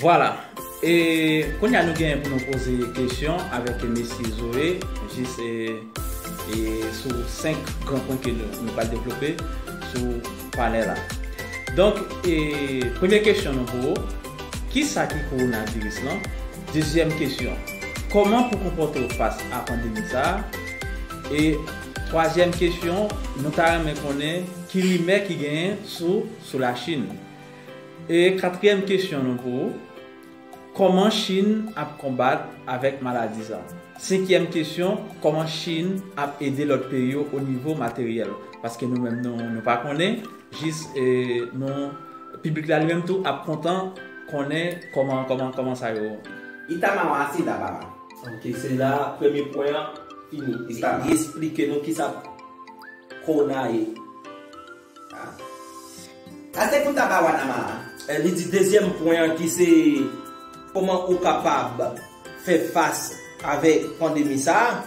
Vwala e kounye a nou genyen pou nou poze kesyon avèk mesye Zoe jis e sou 5 gran pwen ke nou pral devlope sou panè la. Donk e premye kesyon nou pou ou, kisa ki kowonaviris lan? Dezyèm kesyon, Kòman pou konpòte w fas a pandemi sa a? E twazyèm kesyon, Nou ta renmen konnen ki rimè ki genyen sou sou Lachin? E katriyèm kesyon nou pou ou, Kòman Chin ap konbat avèk maladi sa? Senkyèm kesyon, Kòman Chin ap ede lòt peyi yo onivo materyèl? Paske nou menm nou pa konnen. Jis nou piblik la li menm tou ap kontan konnen koman koman koman sa yo. Itama wa se la baba. Ok se la premye pwen an fini. Itama. Li esplike nou kisa Corona ye. Ah. Ase pou taba wa nama a. Li di dezyèm pwen an ki se koman ou kapab fè fas avèk pandemi sa.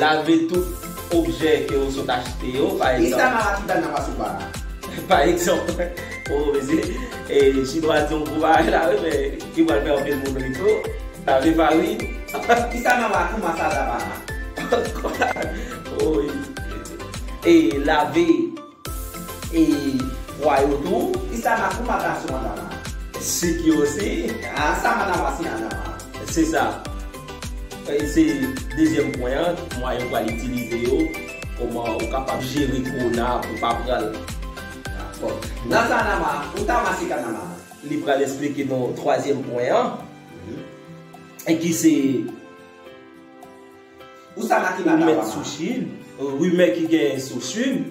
Lave tout objè ke ou sot achte yo, pa egzanp. Kisa nan Lakidal nan pase pa la? Pa egzanp, o mesye, e chinwa di yon gwo bagay la wi men ki pral fè anpil moun ri tou, lave farin. Kisa nan Lakou Masada pa la? O, e lave. E pwa yo tou? E sa ma kou mata sou Adama? Sik yo osi? A sa ma ta masi Adama? Se sa. Se dezyèm pwen an, mwayen ou pral itilize yo, kòman ou kapab jere kou na pou pa pran l. Bon. Nan sa Adama, ou ta masi Adama? Li pral esplike nou twazyèm pwen an, ki se. Ou sa la ki la la wa. Rumè ki gen sou chine.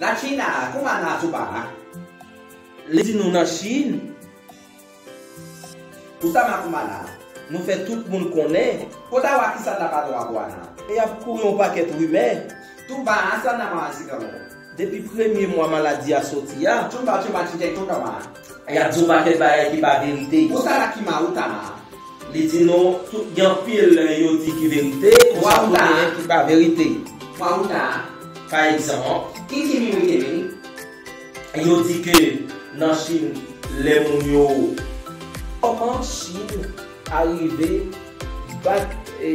La china a kouman la tou pa la. Li di nou nan chine. Ou sa la kouman la. Nou fè tout moun konnen. Kot a wa ki sa la pa la wa. E ap kouri yon pakèt rumè. Tou pa a sa la wa si ka la. Depi premye mwa maladi a soti a. Chonta chema chitey chonta ma. Yap di w paket bagay ki pa verite. Bon sa la ki ma ou ta ma. Li di nou tout gen anpil yo di ki verite konsa tou genyen ki pa verite. Mwa ou ta. Pa egzanp. Ki ti mi ou te vini. Yo di ke nan chine le moun yo. Koman chine arive bat e.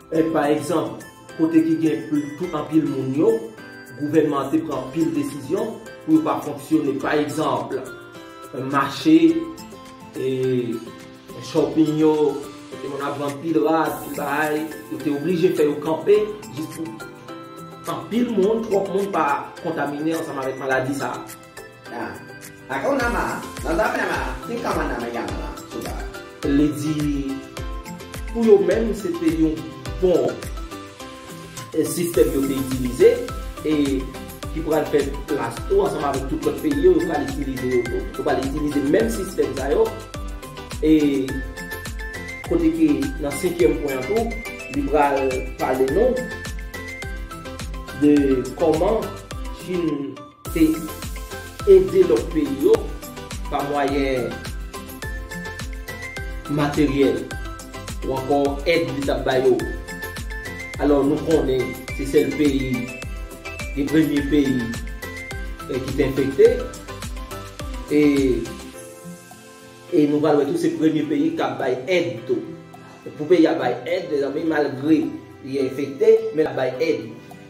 Èd pa egzanp, kote ki gen pou anpil moun yo, gouvènman an te pran anpil desizyon pou yo pa fonksyone. Pa egzanp, mache, shopping yo, kote moun ap vann pil rad, pil bagay, yo te oblije fè yo kanpe jis pou anpil moun, twòp moun pa kontamine ansanm avèk maladi sa a. Na. Aka ou nama, nan zafè nama, kin kaman nama yaman la, sou ba. Li di, pou yo menm se te yon bon sistèm yo te itilize e ki pral fè plas tou ansanm avèk tout lòt peyi yo, yo pral itilize yo tou. Yo pral itilize menm sistèm sa yo e kote ke nan senkyèm pwen an tou, li pral pale nou de kòman Chin. te ede lòt peyi yo pa mwayen materyèl ou ankò èd li tap ba yo alò nou konnen se sèl peyi de premye peyi ki te enfekte e e nou pral wè tou se premye peyi kap bay èd tou pou peyi a bay èd mezanmi malgre li enfekte men lap bay èd.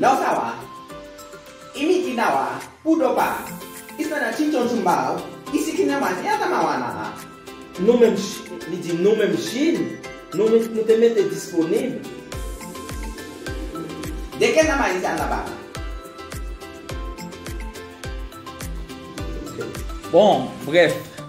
Law sa wa, imi i na wa, pou do pa, is na na chinchon chum baw, i si ki na ma, nya ta ma wa na na. Nou menm Chine, li di nou menm Chine, nou menm nou te mete disponib. De ke na ma is a na ba na. Bon, bref.